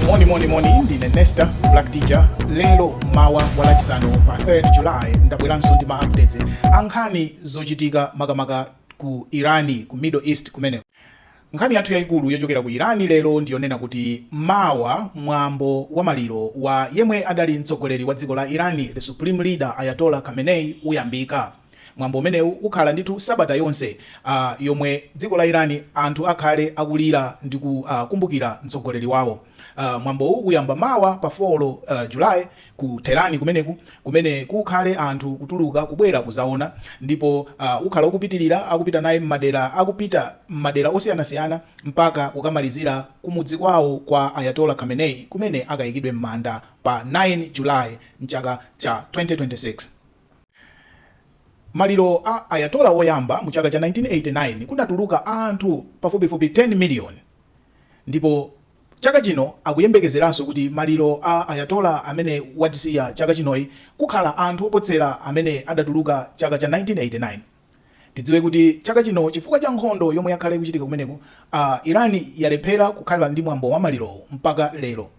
moni moni moni ndine nesta black teacher lero mawa wa Lachisanu pa 3 july ndabweranso ndi ma updates ankhani zochitika makamaka ku irani ku middle east kumeneko nkhani yathu yayikulu yochokera ku irani lero ndiyonena kuti mawa mwambo wa maliro wa yemwe adali mtsogoleri wa dziko la irani the supreme leader ayatola khamenei uyambika Mwambo umenewu ukhala ndithu sabata yonse a yomwe dziko la Iran anthu akhale akulira ndi ku a kumbukira mtsogoleri wawo. a Mwambowu uyamba mawa pa 4 July ku Tehran kumeneku kumene kukhale anthu kutuluka kubwera kuzaona ndipo a ukhala ukupitilira akupita naye m'madera akupita m'madera osiyanasiyana mpaka kukamalizira kumudzi kwawo kwa Ayatollah Khamenei kumene akayikidwe m'manda pa 9 July mchaka cha 2026. Maliro a Ayatollah woyamba mu chaka cha 1989 kunatuluka anthu pafupifupi 10 million ndipo chaka chino akuyembekezeranso kuti maliro a Ayatollah amene watisiya chaka chinoyi kukhala anthu oposera amene adatuluka chaka cha 1989. Tidziwe kuti chaka chino chifukwa cha nkhondo yomwe yakhala ikuchitika kumeneku, Iran yalephera kukhala ndi mwambo wa malirowu mpaka lero.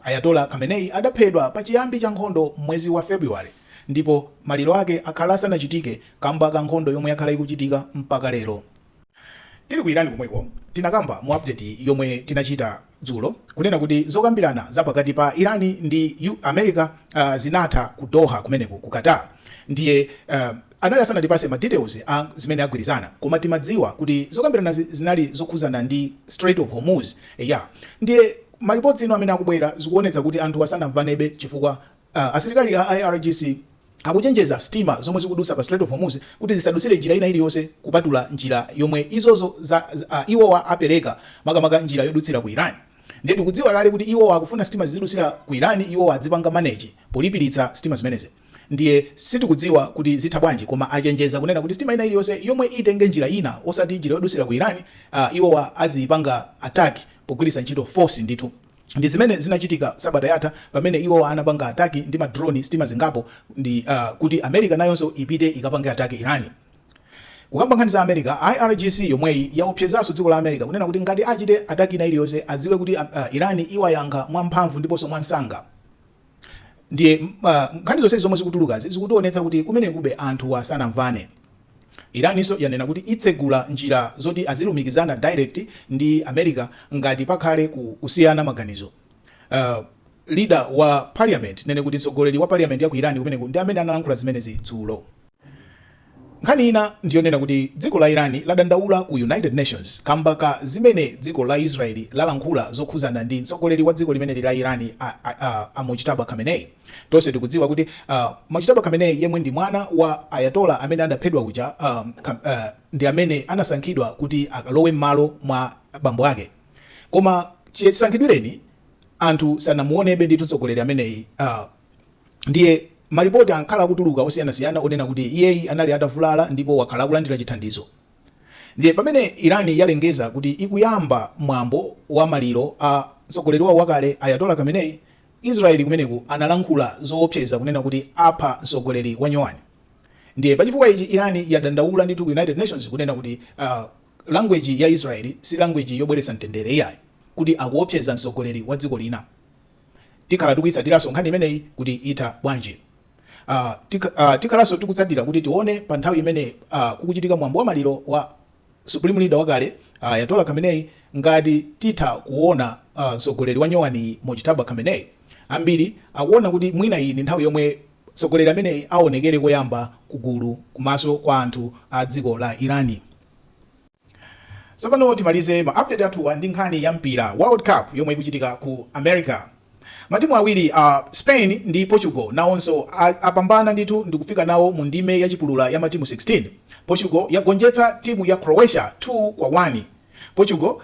Ayatollah Khamenei adaphedwa pa chiyambi cha nkhondo m'mwezi wa February ndipo maliro ake akhala asanachitike kamba ka nkhondo yomwe yakhala ikuchitika mpaka lero. Tili ku Iran komweko tinakamba mu update yomwe tinachita dzulo kunena kuti zokambirana za pakati pa Iran ndi America zinatha ku Doha kumeneko ku Qatar ndiye anali asanatipase ma details a zimene agwirizana koma timadziwa kuti zokambiranazi zinali zokhuzana ndi Strait of Hormuz eya ndiye Ma reports ino amene akubwera zikuonetsa kuti anthuwa sanamvanebe chifukwa asilikali a IRGC akuchenjeza sitima zomwe zikudutsa pa Strait of Hormuz kuti zisadutsire njira ina iliyonse kupatula njira yomwe izozo za iwowa apereka makamaka njira yodutsira ku Iran. Ndiye tikudziwa kale kuti iwowa akufuna sitima zizidutsira ku Iran, iwowa adzipanga manage polipiritsa sitima zimenezi. Ndiye sitikudziwa kuti zitha bwanji koma achenjeza kunena kuti sitima ina iliyonse yomwe itenge njira ina osati njira yodusira ku Iran, aah iwowa aziyipanga attack pogwiritsa ntchito force ndithu. Ndi zimene zinachitika sabata yatha pamene iwowa anapanga attack ndi ma drone sitima zingapo ndi aah kuti America nayonso ipite ikapange attack Iran. Kukamba nkhani za America, IRGC yomweyi yaopsezaso dziko la America kunena kuti ngati achite attack ina iliyonse adziwe kuti aah Iran iwayankha mwa mphamvu ndiposo mwa nsanga. ndiye uh, nkhani zonsezi zomwe zikutulukazi zikutionetsa kuti kumenekube anthuwa sanamvane iranso yanena kuti itsegula njira zoti azilumikizana direct ndi america ngati pakhale kusiyana maganizo uh, leader wa parliament nene kuti mtsogoleri wa parliament ya ku irani kumeneku ndi amene analankhula zimenezi dzulo Nkhani ina ndi yonena kuti dziko la Iran ladandaula ku United Nations kamba ka zimene dziko la Israel lalankhula zokhuzana ndi mtsogoleri wa dziko limeneli la Iran a, a, a, a Mojtaba Khamenei. Tonse tikudziwa kuti a, Mojtaba Khamenei yemwe ndi mwana wa Ayatollah amene adaphedwa uja a, ka, a, ndi amene anasankhidwa kuti akalowe m'malo mwa bambo ake. Koma chisankhidwireni anthu sanamuonebe ndithu mtsogoleri ameneyi a, Ndiye malipoti ankhala akutuluka osiyanasiyana onena kuti iyeyi anali atavulala ndipo wakhala akulandira chithandizo. Ndiye pamene Iran yalengeza kuti ikuyamba mwambo wa maliro a mtsogoleri wawo wakale Ayatollah Khamenei, Israel kumeneku analankhula zoopseza kunena kuti apha mtsogoleri wanyowani. Ndiye pachifukwa ichi Iran yadandaula ndithu ku United Nations kunena kuti language ya Israel si language yobweretsa mtendere iyayi, kuti akuopseza mtsogoleri wa dziko lina. Tikhala tikuitsatiranso nkhani imeneyi kuti itha bwanji. A, tik, a, tikhalanso tikutsatira kuti tione pa nthawi imene a, kukuchitika mwambo wa maliro wa Supreme Leader wakale a, Ayatollah Khamenei ngati titha kuona a, mtsogoleri wanyowaniyi Mojtaba Khamenei. Ambiri akuona kuti mwina iyi ndi nthawi yomwe mtsogoleri ameneyi aonekere koyamba ku gulu komanso kwa anthu a dziko la Iran. Tsopano timalize ma update athuwa ndi nkhani ya mpira world cup yomwe ikuchitika ku America. Matimu awiri a Spain ndi Portugal nawonso apambana ndithu ndikufika nawo mu ndime ya chipulura ya matimu 16. Portugal yagonjetsa timu ya Croatia 2 kwa 1. Portugal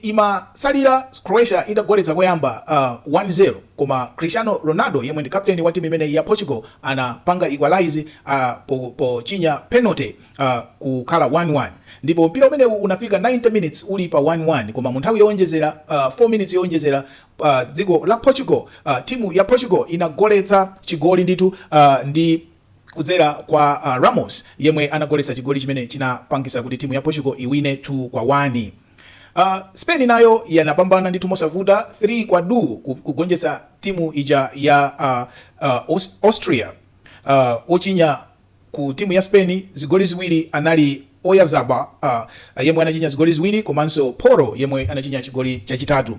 inkatsalira Croatia itagoletsa koyamba 1 0 koma Cristiano Ronaldo yemwe ndi captain wa timu imeneyi ya Portugal anapanga equalize a, pochinya penalty. a kukhala 1, 1 ndipo mpira umenewu unafika 90 minitsi uli pa 1, 1 koma mu nthawi yowonjezera, a 4 minitsi yowonjezera, a dziko la Portugal, a timu ya Portugal inagoletsa chigoli ndithu, a ndi kudzera kwa a Ramos yemwe anagoletsa chigoli chimene chinapangitsa kuti timu ya Portugal iwine 2 kwa 1. A Spain nayo inapambana ndithu mosavuta 3 kwa du kugonjetsa timu ija ya a, a Aus- Austria, a ochinya Ku timu ya Spain, zigoli ziwiri anali Oyarzabal yemwe anachinya zigoli ziwiri komanso Porro yemwe anachinya chigoli chachitatu.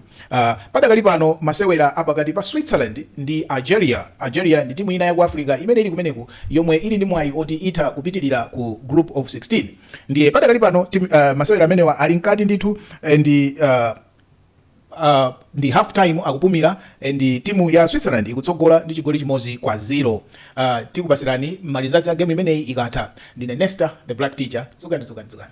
Padakali pano masewera a pakati pa Switzerland ndi Algeria, Algeria ndi timu ina yaku Africa imene ili kumeneku yomwe ili ndi mwayi oti itha kupitilira ku Group of 16 ndiye padakali pano masewera amenewa ali mkati ndithu and. ndi half time akupumira and timu ya Switzerland ikutsogola ndi chigoli chimodzi kwa zero uh, tikupatsirani ma results a game imeneyi ikatha ndine Nesta the black teacher dzukani dzukani dzukani